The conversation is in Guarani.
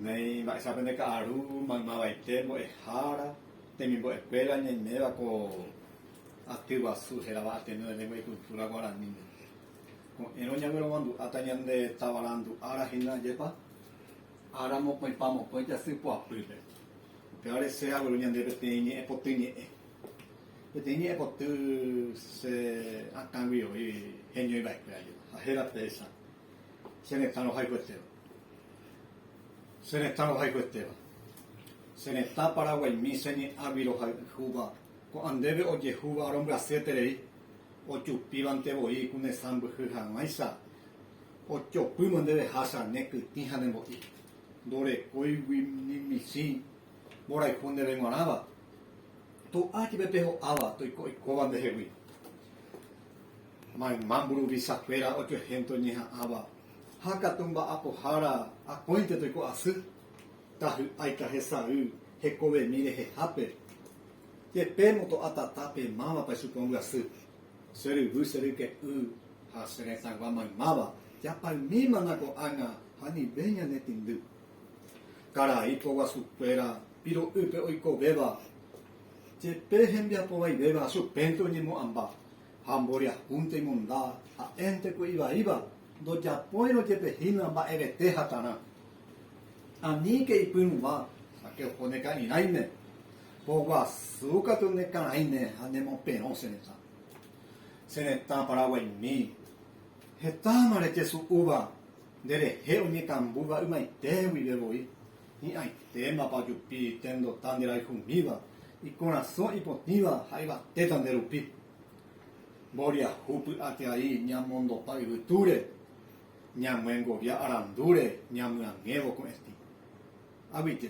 Néi mba'éicha pende ka'aru maymavaite mbo'ehára temimbo'ekuéra ñaiméva ko aty guasu hérava Ateneo de Lengua y Cultura Guaraní. Ko'ẽrõ ñagueromandu'áta ñande tavarandu ára hína jepa ára mokõipa mokõi jasy poapýpe. Upéva resẽ agueru ñande peteĩ ñe'ẽ poty ñe'ẽ. Peteĩ ñe'ẽ poty che akãgui oĩ heñói va'ekuéra jepa. Ha héra péicha. Che retã rohayhuetéva. Che retã rohayhuetéva. Che retã Paraguaimi che ñe'ãgui rohayhúva, ko'ã ndéve ojehúva rombyasyeterei, ojupívante voi ku ne sãmbyhy hag̃uáicha, ojopýma nde rehácha ne kytĩ ha ne mbo'i, ndorekóigui ni michĩ mborayhu ndéve g̃uarãva, to'a jepe pe ho'áva toiko oikóva ndehegui. Mayma mburuvichakuéra ojuehénte oñeha'ãva ha katu mba'apohára akóinte toiko'asy, tahy'áika hesay hekovemi rehehápe. Jepe moto'a tata pe mávapa ichupe ombyasy, Che ryvy, che ryke'y ha che retãgua maymáva japaymímana ko'ág̃a ha nive ñane tĩndy. Karai poguasukuéra piro'ýpe oikovéva. Jepe hembiapo vaivéva asupénte oñemo'ãmba ha mboriahúnte imonda, ha'énte ku ivaíva, ndojapóirõ jepe hína mba'evete hatarã. Aníke ipyrũva, sake oho ne ka'irãime, poguasu katu ne karãime ha ne moperõ che retã. Che retã Paraguaimi, hetáma rejesu'úva nde rehe oñekambúva ymaite guive voi, Hi'ãitémapa ojupi tendota nderayhumíva, ikorasõ ipotĩva ha yvatéta nde rupi. Mboriahu py'ateai ñamondopa yvytúre, ñamyengovia arandúre ñamyangẽvo ko'ẽtĩ. Aguyje.